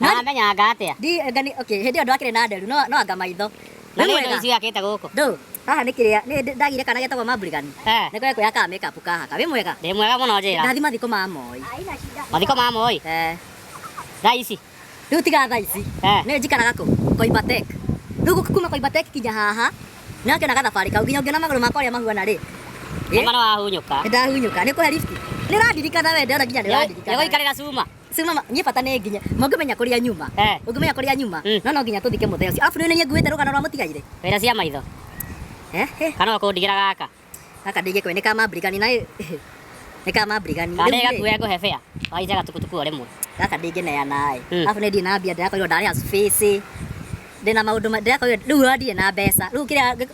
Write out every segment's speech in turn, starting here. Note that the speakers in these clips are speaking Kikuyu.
No Nani? amenyanga atia? Ndi ngani okay, hĩndĩ ĩyo ndwakĩrĩ na nderu no no anga maitho. Na Rĩu nĩ wega. ndo icio akite guku. Ndũ, haha nĩ kĩrĩa nĩ ndĩ- ndagire kana getagwo Mambrigan. Eh. Nĩ kwenda kwĩhaka makeup kahaka. Wĩ mwega? Ndi mwega muno njira. Ndathi mathiko ma Moi. Mathiko ma moi. Eh. Thaa ici. Rĩu tiga thaa ici. Eh. Nĩ njikaraga kũ? Koibatek. Rĩu gũka kuma Koibatek kinya haha. Nĩ akĩona gathabarĩ kau nginya ũngĩona magũrũ makwa ũrĩa mahuana rĩ. Ĩ? Mama no ahunyuka. Nĩ ndahunyũka. Nĩ kũhe lift. Nĩ ũrandirikana we ndĩrona nginya nĩ ũrandirikana. Nĩgũikarĩra cuma. Sio mama, nyie bata nĩ nginya. Mũngĩmenya kũrĩa nyuma. Eh. Ũngĩmenya kũrĩa nyuma. Mm. No no nginya tũthike mũthee ũcio. Arabu nĩ nĩ nguĩte rũgano rwa mũtigaire. Wĩra cia maitho. Eh. eh. Kana ũkũndigĩra gaka. Gaka ndingĩkwe nĩ kama brigani na nĩ kama brigani. Kana Rĩu-rĩ, gakuoya ngũhe bĩa. Waita gatukutuku o rĩmwe. Gaka ndingĩneana ĩ. Mm. Arabu nĩ ndirĩ na mbia ndĩrakorirwo ndarĩha space. Ndĩna maũndũ ma- ndĩrakorirwo rĩu ndirĩ na mbeca. Rĩu kĩrĩa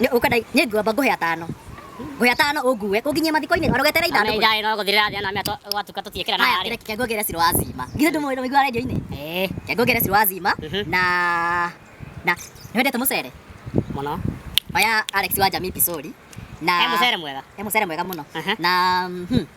Nĩ- ũkwenda nĩ ngwamba ngũhe atano ngũhe atano ũngue kũnginyia mathiko-inĩ orogetere ithandũkũ Ngai no guthirira thĩ na mĩa gwatuka tutiekera na haya harĩ. kĩreke ngũgere ciro wa zima githĩ ndũmũĩ ndũmĩigua radio-inĩ Eh, Reke ngũgere ciro wa zima Mhm. na na nĩ wendete mũcere mũno. oya Alex wa Jamii Pisori na He mũcere mwega. he mũcere mwega mũno Aha. na mhm,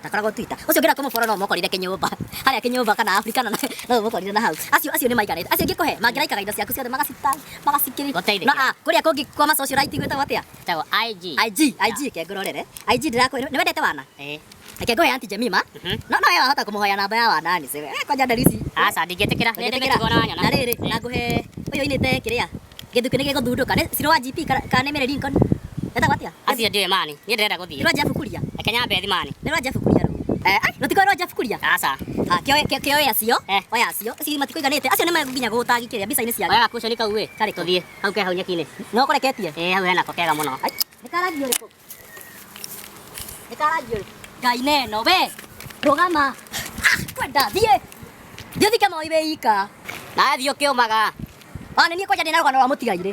ndakoragwo Twitter ucio ngira kumuforo no mokorire kinyumba haria kinyumba kana Afrika na no mokorire na hau acio acio ni maikarite acio ngikuhe mangiraikaga indo ciaku ciothe magacita magacikiri na a kuria kungi kwa ma social right gwitagwo atia tago IG IG IG ke ngororere IG ndirakwira ni wendete wana eh Reke ngoe Auntie Jemima. Mhm. No no yeye ahota kumuhoya namba ya wana ni sebe. Eh, kwanja ndarisi. Aca ndingetikira. Nĩ ndĩgetigwo na wanyona. Na rĩrĩ, na nguhe uyu inite kiria. Kĩndũ kĩu nĩ gĩgũthundũka. Nĩ Sirũ wa GP kana kana nĩ Mary Lincoln? Etagwo atĩa? acio ndiũĩ mani niĩ ndĩrenda Nĩ gũthiĩ rwa Jeff Kuria. reke nyambe thiĩ mani Nĩ rwa Jeff Kuria rũu. Eh, ai, rũtikoĩ rwa Jeff Kuria? aca Ah, kĩoe- kĩ- kĩoe acio, Eh. oya acio. Acio matikũiganĩte. Acio nĩ megũkinya gũũtagi kĩrĩa mbica-inĩ ciake. oya gakuconi kau ĩ Karĩkũ? tũthiĩ hau ke hau nyeki-inĩ No ũkoreketie? ĩ hau hena ko kega mũno Ai, nĩ ka rangi ũrĩkũ? Nĩ karagio. Ngai na ĩno we. Rũgama. Ah, Kwenda thiĩ. Thiĩ thike moi wĩ ika. Nathiĩ ũkĩũmaga. Ona niĩ kwanja ndĩna rũgano rwa mũtigairĩ.